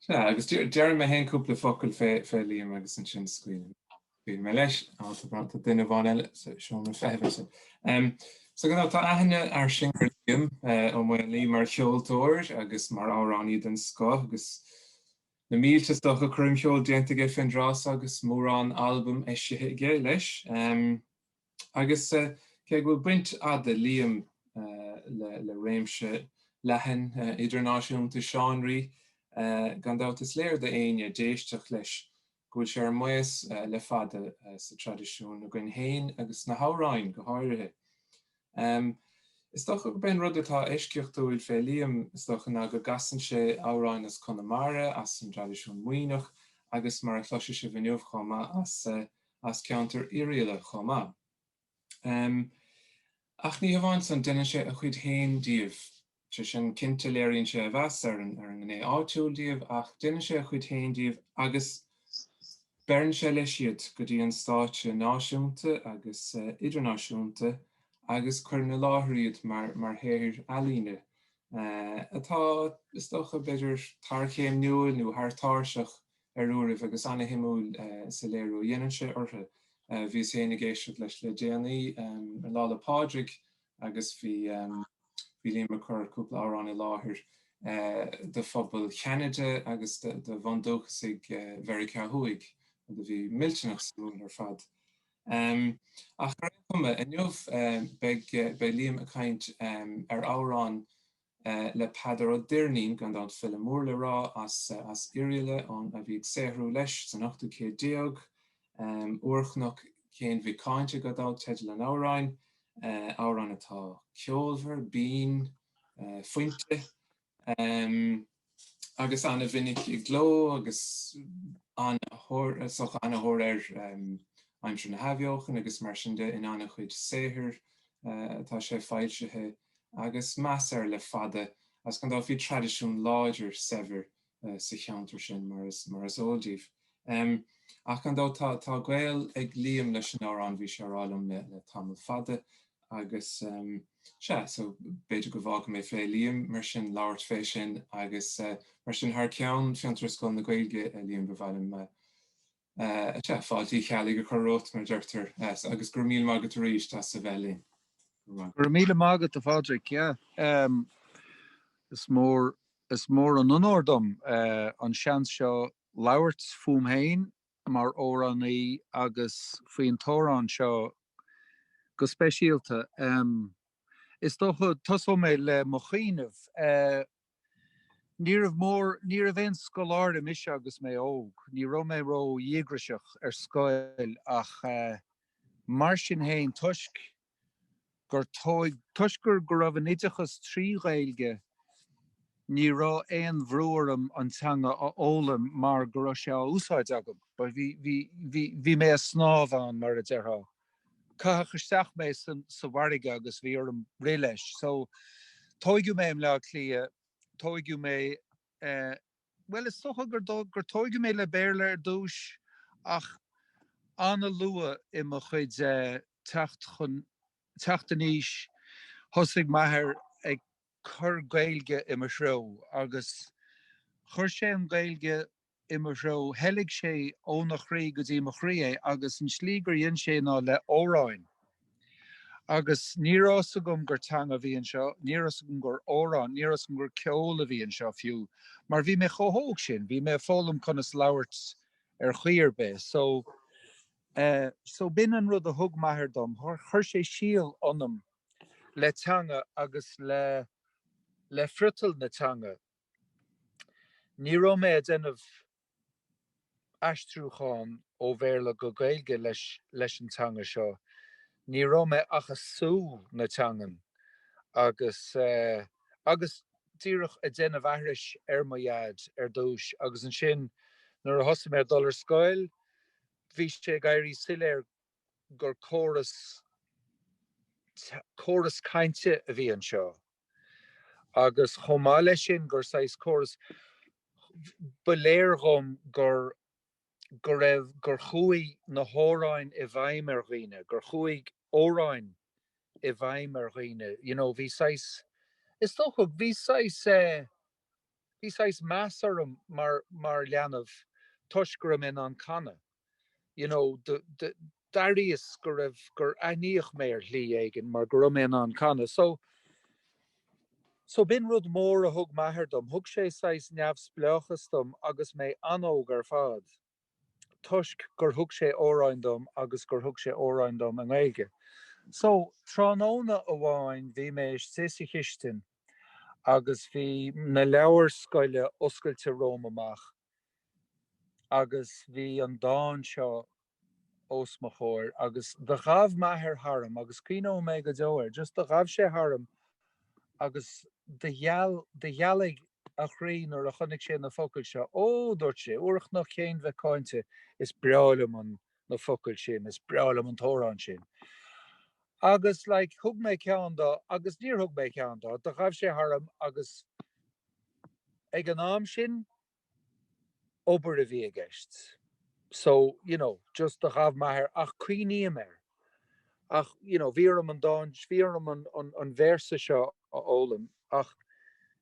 Sea, agus déarfaidh mé fhéin cúpla focal fé Liam agus ansin scaoilfidh mé leis. Á, tá brat do duine amháin eile sa seomra feithimh ansin. So, you know, tá aithne fhairsing ar Liam Ó Maonlaí mar cheoltóir agus mar amhránaí den scoth agus na mílte stoca coirmcheoil déanta aige fén dtráth so agus mórán albaim eisithe aige leis. Agus cé go bhfuil baint fhada ag Liam, le réimse leathan idirnáisiúnta seánraí, gan dabht is léir d'éinne a d'éistfeadh leis go bhfuil sé ar maos le fada sa traidisiún againn féin agus sna hamhráin go háirithe. Is dócha gurb é an rud atá eisceachtúil fé Liam, is dócha, ná go gcasann sé amhráin as Conamara, as an dtraidisiún Muimhneach agus, mar a chloisfidh sibh inniu chomh maith, as. as ceantar Oirialla chomh maith. Ach ní hamháin san, deineann sé a chuid féin díobh. Sé sin, cinnte léiríonn sé a mheas ar an ngné áitiúil díobh ach deineann sé a chuid féin díobh agus beireann sé leis iad go dtí an stáitse náisiúnta agus idirnáisiúnta agus cuireann i láthair iad mar shaothair ealaíne atá, is dócha, b'fhéidir, tarchéimniúil nó thar táirseach ar uairibh agus ana-shuimiúil sa léiriú a dhéanann sé orthu. Bhíos féin ag éisteacht leis le déanaí ar Lá 'le Pádraig agus bhí Liam ag cur cúpla amhrán i láthair do phobal Cheanada agus do bhundúchasaigh Mheiriceá Thuaidh rud a bhí millteanach suimiúil ar fad. Ach ar aon chuma, inniu beidh Liam ag caint ar amhrán le Peadar Ó Doirnín, gan dabht file mór le rá as Oirialla ón a bhí ag saothrú leis san ochtú céad déag, Úrchnoc Chéin Mhic Cáinte gan dabht teideal an amhráin, amhrán atá ceolmhar, binn, fuinte. agus ana-mhinic i gcló agus ana-thóir air aimsir na hAithbheochana agus mar sin de in ana-chuid saothair atá sé foilsithe agus meas air le fada agus gan dabht bhí traidisiún láidir saibhir sa cheantar sin mar is eol díbh. Em. Ach gan dabht tá gaol ag Liam leis an amhrán bhí sé a rá liom le le tamall fada agus em sea so b'fhéidir go bhfágfaidh mé fé Liam mar sin labhairt fé sin agus eh mar sin thar ceann Fiontar is Scoil na Gaeilge eh Liam ba mhaith liom eh eh sea fáilte Uí Cheallaigh a chur romhat mar a deirtear eh so agus go raibh míle maith agat aríst as a bheith linn. Go raibh maith. Go raibh míle maith agat a Phádraig yeah em is mór is mór an onóir dom eh an seans seo labhairt fúm féin mar amhránaí agus faoin amhrán seo go speisialta. Is dócha, tosóidh mé le mo chuimhneamh. Ní raibh mór, ní raibh aon scoláire mise agus mé óg. Ní raibh mé ró-dhíograiseach ar scoil ach mar sin féin toisc gur tóig toisc go raibh an oideachas trí Ghaeilge ní raibh aon bhrú orm an teanga a fhoghlaim mar go raibh sé á úsáid agam. Bhí, bhí, bhí, bhí, bhí mé ag snámh ann mar a déarfá. Caitheadh isteach mé san, sa bhfarraige agus bhí orm rith leis. So, tóigeadh mé i mBleá Cliath, tóigeadh mé eh, bhuel, is dócha gur tóigeadh mé le Béarla ar dtúis ach an-luath i mo chuid teacht teacht in aois thosaigh m'athair ag cur Gaeilge i mo threo agus chuir sé an Gaeilge i mo threo, theilg sé óna chroí go dtí mo chroí é agus an slí gur dhein sé ná le hamhráin. Agus ní raibh a fhios agam gur teanga a bhí anseo, ní raibh a fhios agam gur amhrán, ní raibh a fhios agam gur ceol a bhí anseo fiú, mar bhí mé chomh hóg sin, bhí mé ag foghlaim conas labhairt ar chaoi ar bith. So eh, so b'in an rud a thug m'athair dom, chuir sé síol ionam le teanga agus le, le friotal na teanga. Ní raibh mé a' déanamh. aistriúcháin ó Bhéarla go Gaeilge leis leis an teanga seo. Ní raibh mé ach ag sú na teangan agus agus díreach ag déanamh aithris ar mo Dhaid ar dtúis agus ansin nuair a thosaigh mé ag dul ar scoil bhí sé ag éirí soiléir gur córas córas cainte a bhí anseo. Agus chomh maith leis sin gur saghas córas, ba léir dhom gur, go raibh, gur chuaigh na hamhráin i bhfeidhm ar dhaoine, gur chuaigh amhráin i bhfeidhm ar dhaoine, you know, bhí saghas, is dócha, bhí saghas eh. Bhí saghas meas orm mar, mar leanbh toisc go raibh mé in ann canadh. You know, the, the, d'airíos go raibh, gur aithníodh mé ar shlí éigin mar go raibh mé in ann canadh. So, so b'in rud mór a thug m'athair dom. Thug sé saghas neamhspleáchas dom agus mé an-óg ar fad. toisc gur thug sé amhráin dom agus gur thug sé amhráin dom i nGaeilge. So, tráthnóna amháin bhí mé istigh sa chistin agus bhí na leabhair scoile oscailte romham amach agus bhí an dán seo os mo chomhair agus do ghabh m'athair tharam agus cuimhneoidh mé go deo air, just do ghabh sé tharam agus do gheal, do ghealaigh a chroí nuair a chonaic sé na focail seo. Ó! dúirt sé, Úrchnoc Chéin Mhic Cáinte, is breá liom an, na focail sin, is breá liom an t-amhrán sin. Agus, like, thug mé ceann dó agus níor thug mé ceann dó, do ghabh sé tharm agus ag an am sin, obair a bhí i gceist. So, you know, just do ghabh m'athair, ach cuimhním air. Ach, you know, bhí orm an dán, bhí orm an véarsa seo a fhoghlaim ach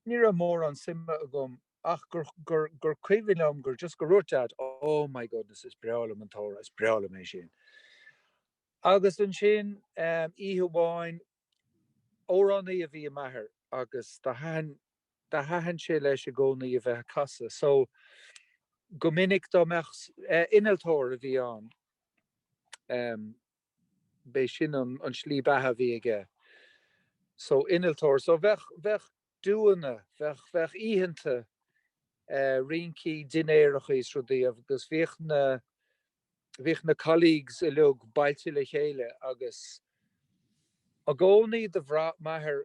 ní raibh mórán suime agam ach gur, gur, gur cuimhin liom gur just go dhúirt Dad, oh my goodness, is breá liom an t-amhrán, is breá liom é sin. Agus ansin, oíche amháin. Amhránaí a bhí i m'athair agus do thaithin, do thaithin sé leis i gcónaí a bheith a' casadh so go minic dá mbeadh, eh innealtóir a bhí ann ehm b'é sin an, an tslí beatha a bhí aige so innealtóir so bheadh, bheadh. dúnna. Bheadh, bheadh oícheanta eh rincí, dinnéarachaí is rudaí agus bhíodh na, bhíodh na colleagues uiliug bailte le chéile agus i gcónaí do bhraith m'athair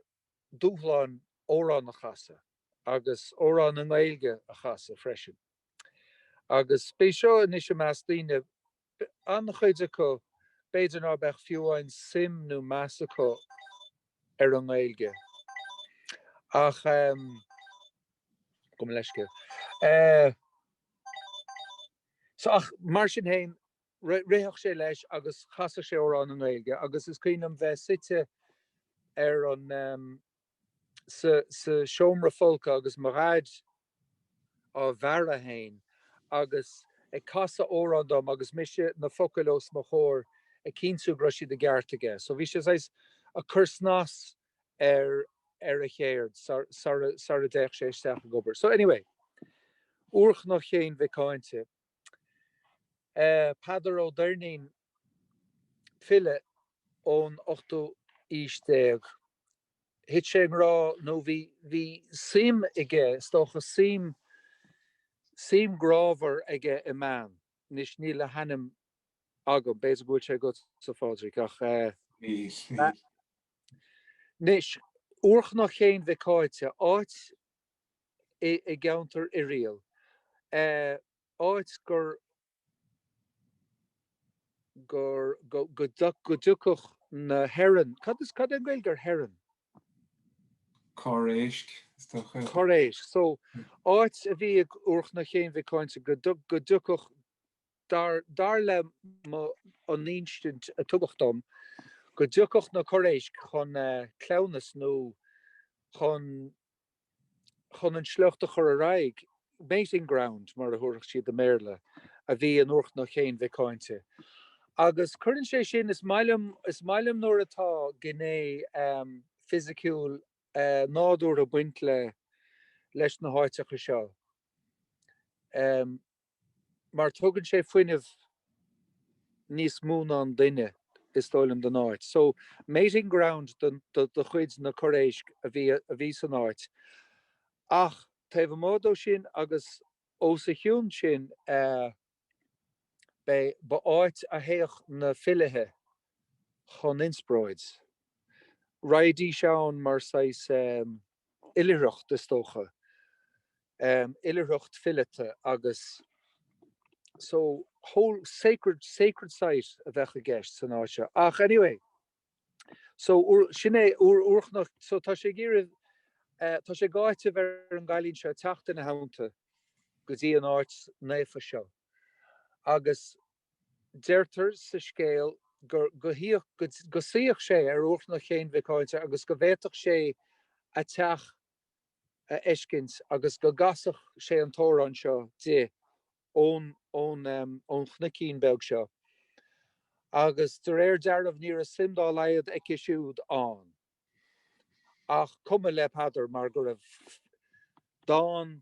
dúshlán amhrán a chasadh agus amhrán i nGaeilge a chasadh freisin. Agus b'é seo anois i measc daoine, an-chuid acu b'fhéidir ná beadh fiú amháin suim nó meas acu ar an nGaeilge. Ach ehm. gabh mo leithscéal. Eh. So, ach mar sin féin, ritheadh sé leis agus chasadh sé amhrán i nGaeilge agus is cuimhin liom bheith suite ar an ehm, sa seomra folctha agus mo dhaid á bhearradh féin agus ag casadh amhrán dom agus mise na focail os mo chomhair ag cinntiú go raibh siad i gceart aige. So bhí sé saghas ag cur snas ar a cheird sara dtéadh sé isteach ag obair. So anyway, Úrchnoc Chéin Mhic Cáinte. Peadar Ó Doirnín, file ón ochtú aois déag. Thit sé i ngrá nó bhí, bhí suim aige, is dócha, suim, suim ghrámhar aige i mbean. Anois níl a hainm agam, b'fhéidir go bhfuil sé agatsa, a Phádraig, ach eh. Níl, níl. Anois, Úrchnoc Chéin Mhic Cáinte, áit i gceantar Oirialla, áit gur go dtiocfadh na heron, cad is, cad é an Gaeilge ar heron? Corr éisc, is dócha. Corr éisc. So, áit a bhí in Úrchnoc Chéin Mhic Cáinte go dtiocfadh, dar leis an insint a tugadh dom, go dtiocfadh na corr éisc chun cleamhnas nó chun chun an sliocht a chur ar aghaidh, mating ground mar a déarfadh siad i mBéarla, a bhí in Úrchnoc Chéin Mhic Cáinte. Agus cuireann sé sin, is maith liom, is maith liom nuair atá gné fisiciúil nádúrtha ag baint leis na háiteacha seo. mar tugann sé fuinneamh níos mó ná an duine is dóigh liom don áit. So mating ground de chuid na Corr Éisc a bhí san áit ach taobh amuigh de sin agus ós a chionn sin b'é ba áit a théadh na filithe chun inspróid. Raghaidís ann mar saghas eh. oilithreacht is dócha. Oilithreacht fileata agus so whole sacred sacred site a bheadh i gceist san áit seo. Ach anyway so sin é Úrchnoc so tá sé ag iarraidh tá sé ag áiteamh ar an gcailín seo teacht ina theannta go dtí an áit naofa seo agus Deirtear sa scéal go suíodh, go suíodh sé ar Úrchnoc Chéin Mhic Cáinte agus go bhféadfadh sé a teach a fheiscint agus go gcasadh sé an t-amhrán seo di ón chnoicín beag seo. Agus de réir dealraimh ní raibh suim dá laghad aici siúd ann. Ach cuma le Peadar mar go raibh dán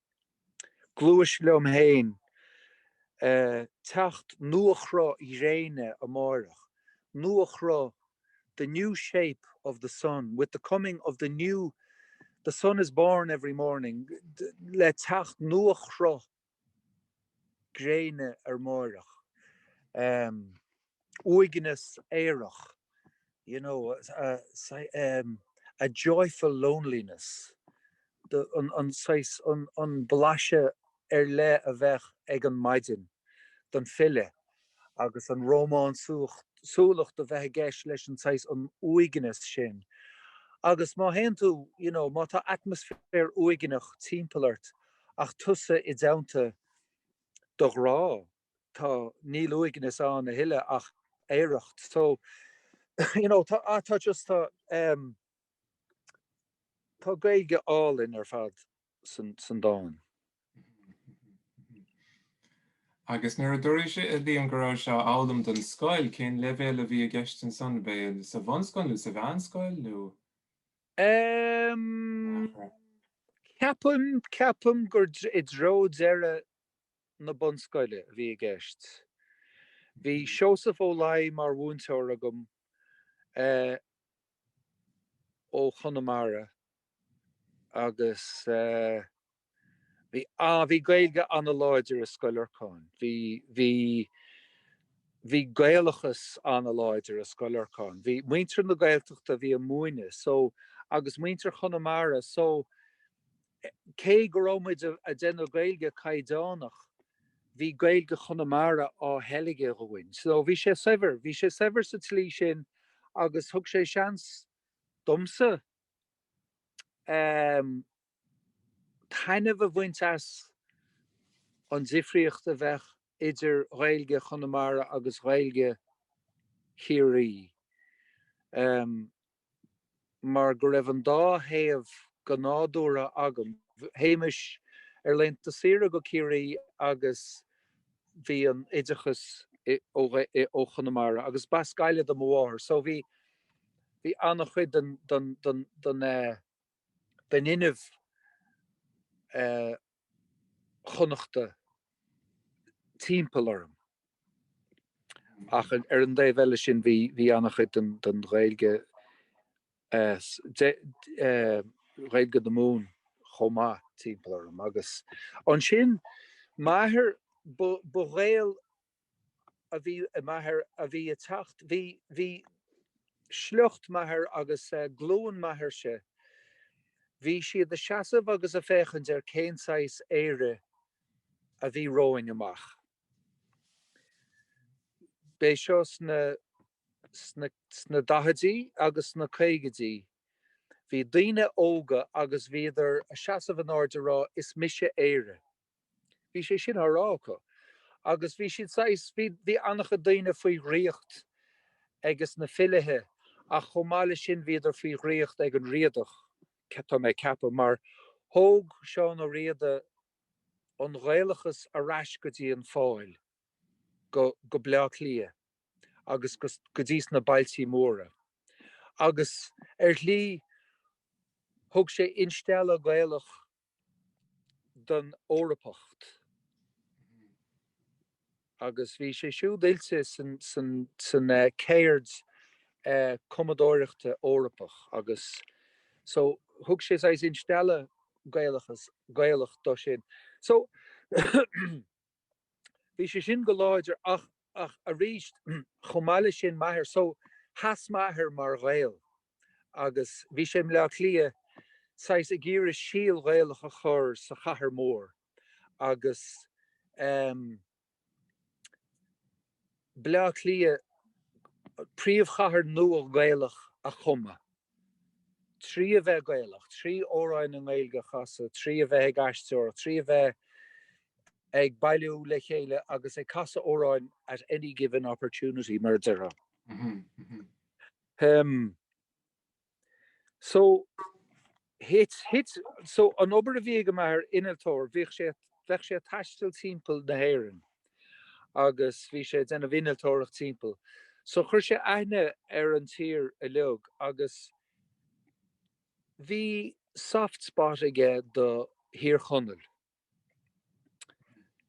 Gluais liom féin teacht nuachruth gréine amáireach, nuachruth the new shape of the sun, with the coming of the new the sun is born every morning le teacht nuachruth gréine amáireach. uaigneas aerach, you know, a joyful loneliness, an saghas, an blaiseadh ar leith a bheadh ag an maidin don file agus an rómánsúlacht a bheith i gceist leis an saghas, an uaigneas sin. Agus má théann tú, you know, má tá atmaisféar uaigneach timpeall ort ach tusa i dteannta do ghrá, tá, níl uaigneas ann a thuilleadh ach aoireacht so you know tá ah tá just tá em tá Gaeilge álainn ar fad san san dán. Agus nuair a dúraís a Liam go rabhais á fhoghlaim don scoil, cén leibhéal a bhí i gceist ansan, ab é sa bhunscoil nó sa mheánscoil nó? Em ceapaim ceapaim gur i dtreo deireadh na Bunscoile a bhí i gceist. Bhí Seosamh Ó Laidhe mar mhúinteoir agam ó Chonamara agus bhí, á, bhí Gaeilge an-láidir i Scoil Lorcáin. Bhí, bhí, bhí Gaelachas an-láidir i Scoil Lorcáin. Bhí muintir na Gaeltachta a bhí ag múineadh so, agus muintir Chonamara so, Cé go raibh muid a' déanamh Gaeilge caighdeánach, bhí Gaeilge Chonamara á theilgeadh dhúinn. So bhí sé saibhir, bhí sé saibhir sa tslí sin agus thug sé seans domsa ehm taitneamh a bhaint as an difríocht a bheadh idir Ghaeilge Chonamara agus Ghaeilge Chiarraí. Ehm. mar go raibh an dá thaobh go nádúrtha agam. Théimis ar laethanta saoire go Ciarraí agus bhí an oideachas ó Chonamara agus b'as Gaillimh do mo mháthair so bhí an-chuid den fhuinneamh Chonnachta timpeall orm. Ach ar an dtaobh eile sin bhí an-chuid den Ghaeilge, Ghaeilge na Mumhan chomh maith timpeall orm. Agus ansin m'athair, ba Ghael a bhí i m'athair a bhí ag teacht, bhí, bhí sliocht m'athair agus eh, glúin m'athairse, bhí siad a' seasamh agus a' féachaint ar cén saghas Éire a bhí romhainn amach. B'é seo sna, sna, sna daichidí agus sna caogaidí. Bhí daoine óga agus bhíodar a' seasamh in airde a' rá Is mise Éire. Bhí sé sin á rá acu. Agus bhí siad saghas, bhí, bhí an-chuid daoine faoi dhraíocht ages na filithe ach chomh maith le sin bhíodar faoi dhraíocht ag an Riadach, tá mé ag ceapadh, mar thóg Seán Ó Riada an Ghaelachas ar ais go dtí an Pháil, go, go Bleá Cliath agus go, go dtí sna bailtí móra. Agus ar shlí thug sé instealladh Gaelach don Eorpacht agus bhí sé siúd oilte sa, san céird cumadóireachta Eorpach agus so thug sé saghas instealladh Gaelachas, Gaelacht do sin. So bhí sé sin go láidir ach, ach arís chomh maith le sin m'athair, so sheas m'athair mar Ghael. agus bhí sé i mBleá Cliath saghas ag iarraidh síol Gaelach a chur sa chathair mór agus ehm Bleá Cliath príomhchathair nua Gaelach a chumadh trí a bheith Gaelach, trí amhráin Ghaeilge a chasadh, trí a bheith ag aisteoireacht, trí a bheith ag bailiú le chéile agus ag casadh amhráin at any given opportunity mar a déarfá. Um. So, thit, thit, so an obair a bhí ag m'athair, innealtóir, bhíodh sé, bheadh sé a' taisteal timpeall na hÉireann agus bhí sé a' déanamh innealtóireacht timpeall. So chuir sé aithne ar an tír uilig agus bhí soft spot aige do Thír Chonaill.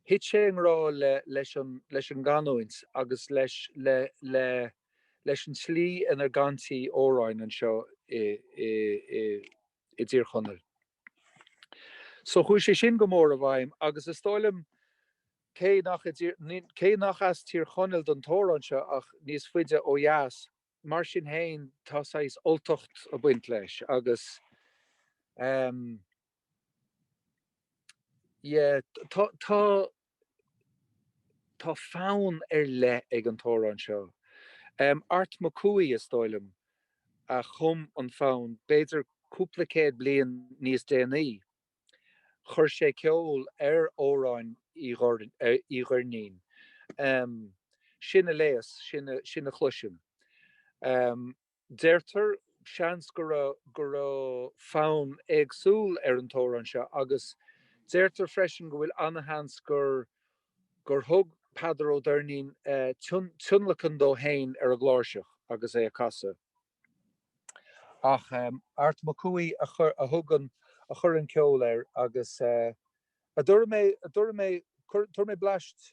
Thit sé i ngrá le, leis an gcanúint agus le, le, le, leis an tslí inar gcantaí amhráin anseo i dTír Chonaill. So chuaigh sé sin go mór i bhfeidhm agus is dóigh liom cé nach, cé nach as Tír Chonaill don t-amhrán seo ach níos faide ó dheas, mar sin féin tá saghas Ultacht ag baint leis agus. yeah tá tá fonn ar leith ag an t-amhrán seo. Art Mac Cumhaigh, is dóigh liom, a chum an fonn, b'fhéidir cúpla céad bliain níos déanaí. Chuir sé ceol ar amhráin Uí Dhoirnín. Sin a léas, sin a chloisim. Deirtear, seans, go raibh, go raibh fonn éagsúil ar an t-amhrán seo agus deirtear freisin go bhfuil ana-sheans gur, gur thug Peadar Ó Doirnín tionlacan dó féin ar an gcláirseach agus é á chasadh. Ach Art Mac Cumhaigh a chuir, a thug an, a chuir an ceol air agus a, a dtabharfaidh mé, a dtabharfaidh mé, tabharfaidh mé bleaist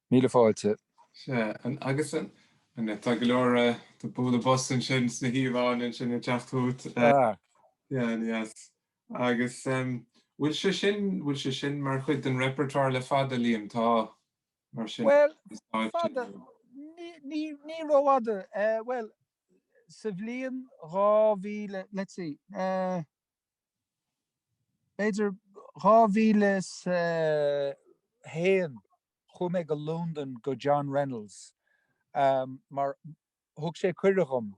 Míle fáilte. Sea, an agus an. An, tá go leor eh, tá bualadh bos ansin sna híomhánna ansin ag teacht chugat. Ah. Yes. Agus em, bhfuil sé sin, bhfuil sé sin mar chuid den repertoire le fada, Liam, tá, mar sin, Bhuel, fada, ní rófhada. Eh, bhuel, sa bhliain dhá mhíle, let's see, eh. B'fhéidir, dhá mhíle is a haon chuaigh mé go Londain go John Reynolds mar thug sé cuireadh dhom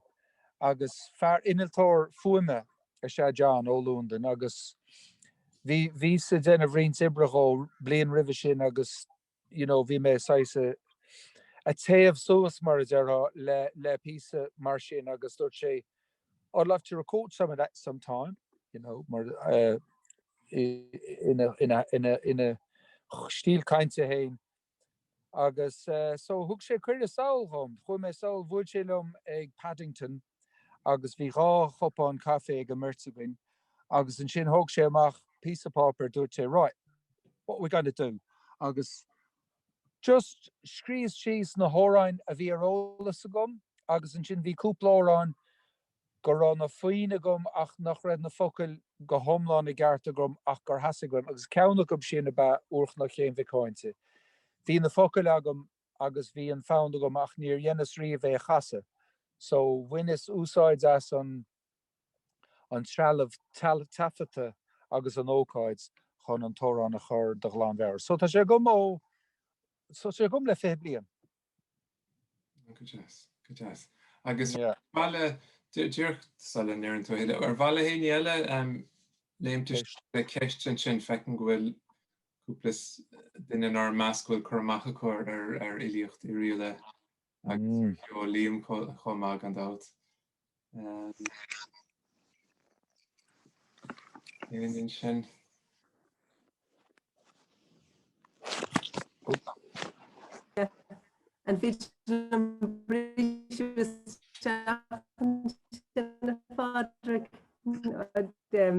agus fear, innealtóir fuaime is ea John ó Londain agus bhí bhíos a' déanamh roinnt oibre dhom bliain roimhe sin agus you know, bhí mé saghas ag téamh suas mar a déarfá le, le píosa mar sin agus dúirt sé I'd love to record some of that some time, you know, mar, eh, i mo, i mo, i mo, i mo stíl cainte fhéin agus, eh, so thug sé cuireadh sall dhom, chuaigh mé sall, bhuail sé liom ag Paddington, agus bhí dhá chupán caife ag an mbeirt againn agus ansin thóg sé amach píosa páipéir dúirt sé right, what we gonna do? agus just scríos síos na hamhráin a bhí ar eolas agam agus ansin bhí cúpla amhrán go raibh na foinn agam ach nach raibh na focail go hiomlán i gceart agam ach gur theastaigh uaim agus ceann acu sin ab ea Úrchnoc Chéin Mhic Cháinte. Bhí na focail agam agus bhí an fonn agam ach níor dheineas riamh é a chasadh so bhaineas úsáid as an an trealamh taifeadta agus an ócáid chun an t-amhrán a chur de ghlanmheabhair. So tá sé agam so tá sé agam le fiche bliain. Go deas, go deas. Agus bhuel, díreach sula ndeireann tú a thuilleadh, ar mhaith le héinne eile léimt isteach le ceist ansin, feicim go bhfuil cúpla duine in ár measc a bhfuil cur amach acu ar fhilíocht Oirialla agus ar cheol Liam chomh maith gan dabht. Aon sin. An fi Patrick dem.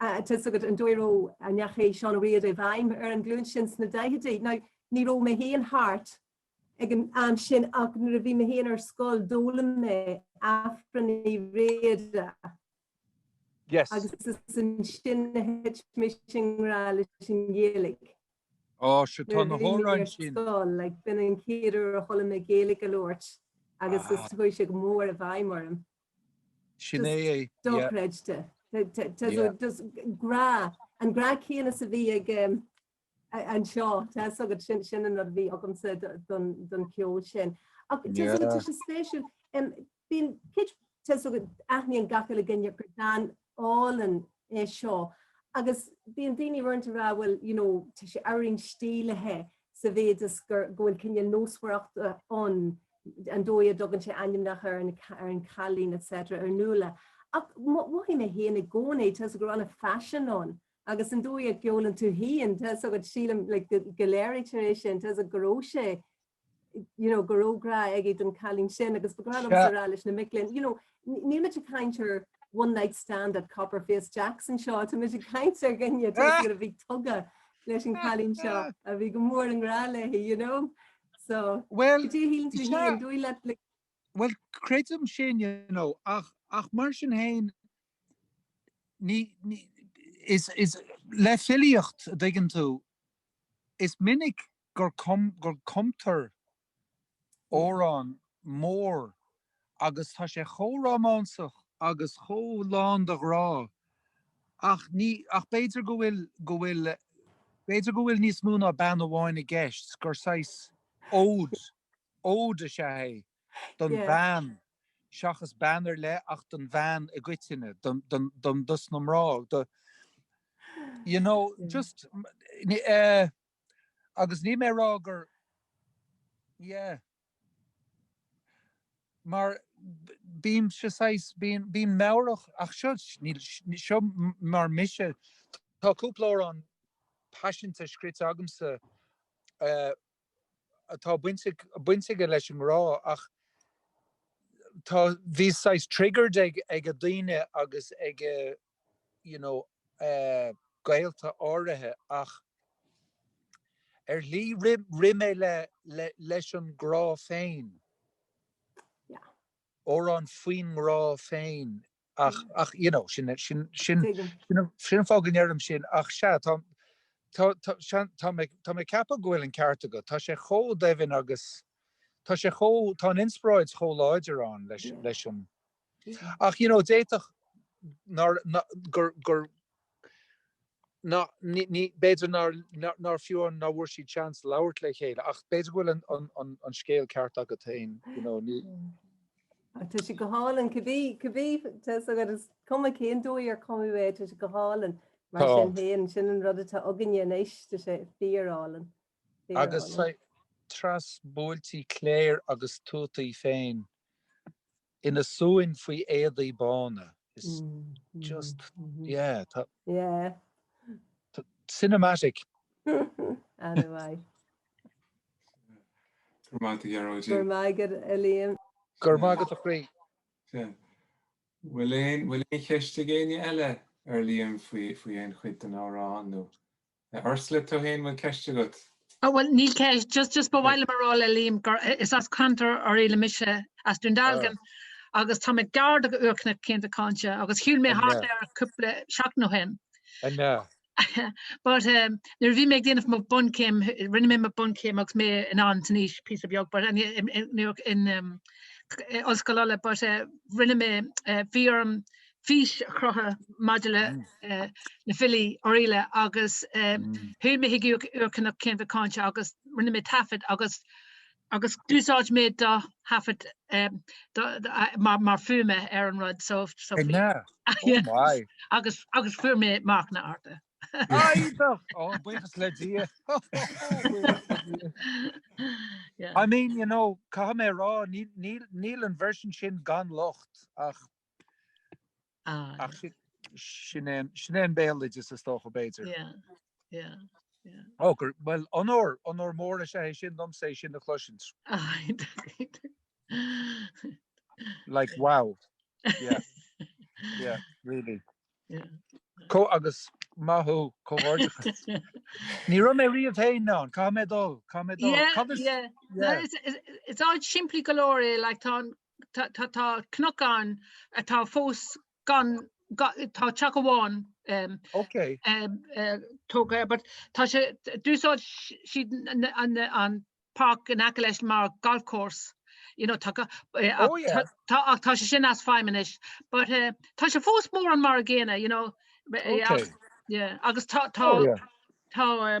tá a fhios agat an dóigh a raibh, a ndeachaigh Seán Ó Riada i bhfeidhm ar an ghlúin sin sna daichidí. Now ní raibh mé féin thart ag an am sin ach nuair a bhí mé féin ar scoil d'fhoghlaim mé Aifreann Uí Riada agus is ansin a thit mise i ngrá leis an Ghaeilge. Ó, sea, tá na hamhráin sin. Nuair a bhí mé ar scoil, like, b'in an chéad uair a chuala mé Gaeilge á labhairt agus is, chuaigh sé go mór i bhfeidhm orm. Sin é, yeah. Dochreidte. Yeah. Just grá, an grá céanna is a bhí ag anseo, tá a fhios agat, sin, sin an rud a bhí agamsa don, don cheol sin. Ach tá a fhios agat, tá sé spéisiúil. Bíonn, cé, tá a fhios agat, aithníonn gach uile duine gur bean álainn é seo agus bíonn daoine uaireanta ag rá bhuel you know tá sé ábhairín stílithe sa mhéid is gur go bhfuil cineál nósmhaireacht ann an dóigh a dtugann sé ainmneacha ar an ar an cailín etc ar Nuala ach mhothaigh mé féin i gcónaí tá a fhios agat go raibh an-phaisean ann agus an dóigh a gceolann tú féin tá a fhios agat sílim like go léirítear é sin tá a fhios agat go raibh sé you know, go raibh grá aige don cailín sin agus ba ghnách liomsa a rá leis na mic linn, you know, níl muid ag caint ar one night stand at Copperface Jack's anseo, tá muid ag caint ar dhuine a bhí tógtha leis an cailín seo a bhí go mór i ngrá léi, you know. So, well, dé hín tú hín, dúí le Well creidim sin you know, ach, ach mar sin féin ní, ní, is, is le filíocht an dtuigeann tú is minic gur cumtar amhrán mór agus tá sé chomh rómánsach agus chomh lán de ghrá ach ní, ach b'fhéidir go bhfuil, go bhfuil, b'fhéidir go bhfuil níos mó ná bean amháin i gceist, 's gur saghas ód, ód is ea é don Yeah. bhean seachas bean ar leith ach don bhean i gcoitinne, don, don, don, dos na mná, do, you know, just, eh. Agus níl mé ag rá gur yeah. Mar bímse saghas, bíonn, bíonn meabhrach ach seo, níl, seo mar mise, tá cúpla amhrán paiseanta scríte agamsa atá bainte, baint aige leis an ngrá ach tá, bhíos saghas triggered ag, ag daoine agus ag. you know, gaolta áirithe ach ar shlí rith mé le, le, leis an ngrá féin. Yeah. Amhrán faoin ngrá féin ach, ach you know, sin, sin, sin, sin an fáth go ndeirim sin ach sea, tá, tá, tá, sean, tá mé, tá mé ag ceapadh go bhfuil an ceart agat, tá sé chomh doimhin agus tá sé chomh, tá an inspioráid chomh láidir ann leis, leis an. Ach you know d'fhéadfadh nár gur gur ná ní b'fhéidir nár nár fiú amháin nár bhfuair siad chance labhairt le chéile ach b'fhéidir go bhfuil an an an an scéal ceart agat féin you know ní Ach tá sé go hálainn cibé cibé tá a fhios agat is cuma cén dóigh ar cumadh é tá sé go hálainn mar Tá. sin féin sin an rud atá againne anois tá sé fíor álainn fíor álainn. Agus tráth is buailte cléir agus tuataí féin. ina suan faoi éadaí bána. Is just, yeah, tá, tá, cinematic. Ana mhaith. Go raibh maith agat, Gearóidín. Go raibh maith agat, a Liam. Go raibh maith agat, a chroí. Sin. Bhfuil aon, bhfuil aon cheist ag éinne eile ar Liam faoi, faoi aon chuid den amhrán nó? A Ursula, tú fhéin bhfuil ceist agat? Oh bhuel níl ceist, just just ba mhaith liom a rá le Liam gur is as ceantar Oirialla mise, as Dún Dealgan, agus tá mé gar do go Úrchnoc Chéin Mhic Cáinte agus shiúil mé thart air cúpla seachtain ó shin. I know. But um nuair a bhí mé ag déanamh mo bunchéim, rinne mé mo bunchéim agus mé anonn san aois píosa beag but in in in um Ollscoil Uladh but eh rinne mé eh bhí orm fís a chruthú maidir le na filí Oirialla agus shiúil mé chuig Úrchnoc Chéin Mhic Cáinte agus rinne mé taifead agus agus d'úsáid mé do thaifead mar fuaime ar an rud so agus agus fuair mé marcanna arda. Buíochas le Dia. I mean, you know, caithfidh mé a rá níl an version sin gan locht ach Ach sin é an béaloideas is dócha, b'fhéidir. Bhuel, onóir, onóir mór is ea é sin domsa é sin a chloisint. Like, wow. Yeah. Yeah, really. Agus maith thú, comhghairdeachas. Ní raibh mé riamh féin ann, caithfidh mé dul, caithfidh mé dul. Yeah, yeah. It's odd, simplí go leor é, like tá an tá cnoc ann atá fós gan, tá teach amháin tógtha air, but tá sé, d'úsáid siad an páirc in aice leis mar golf course, you know, tá sé sin as feidhm anois, but tá sé fós mórán mar an gcéanna, you know, agus tá, tá, tá, tá,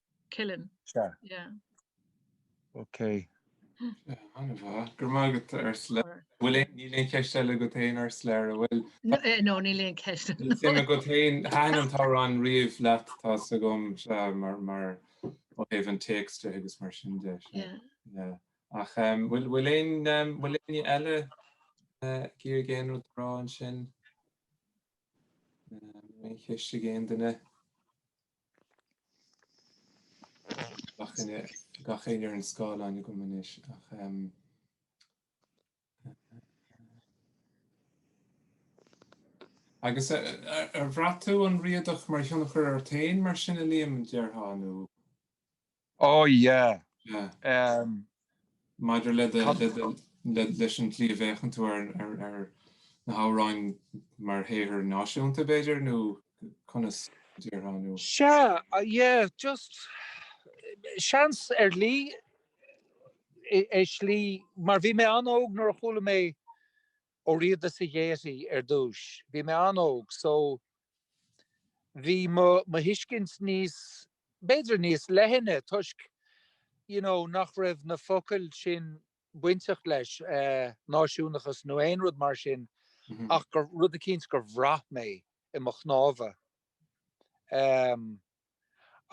Killen. Sea. Yeah. OK. An-mhaith. Go raibh maith agat, Ursula. Bhfuil aon, níl aon cheist eile agat féin, Ursula, a' bhfuil? No, eh, no, níl aon cheist eile. Suim agat féin, thaitin an t-amhrán riamh leat, tá's agam, sea, mar, mar, ó thaobh an téacs de agus mar sin de, sea. Yeah. Yeah. Ach em, bhfuil, bhfuil aon, em, bhfuil éinne eile eh, ag iarraidh aon rud a rá ansin? Em, Aon cheist ag aon duine? Gach éinne ar an scáileán agam anois ach um, Agus ar bhraith tú an Riadach mar thionchar ort féin mar sin a Liam, déarfá, nó? Ó, yeah. Yeah. Um. Maidir le do, le do, le, leis an tslí a bhféachann tú ar, ar, ar na hamhráin mar shaothar náisiúnta, b'fhéidir, nó conas a déarfá, nó? Sea, yeah, just, seans ar shlí, i, ar shlí, mar bhí mé an-óg nuair a chuala mé Ó Riada sa Ghaiety ar dtúis, bhí mé an-óg, so bhí mo, mo thuiscint níos, b'fhéidir níos leithne toisc you know nach raibh na focail sin bainteach leis náisiúnachas nó aon rud mar sin ach gur rud eicínt gur bhraith mé i mo chnámha em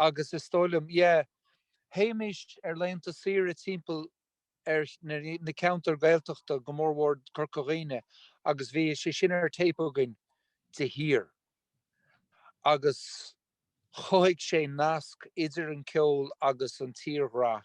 agus is dóigh liom yeah théimis ar laethanta saoire timpeall ar na ceantair Gaeltachta, go mór mór Corca Dhuibhne agus bhí sé sin ar téip againn de shíor agus chothaigh sé nasc idir an ceol agus an tírdhreach.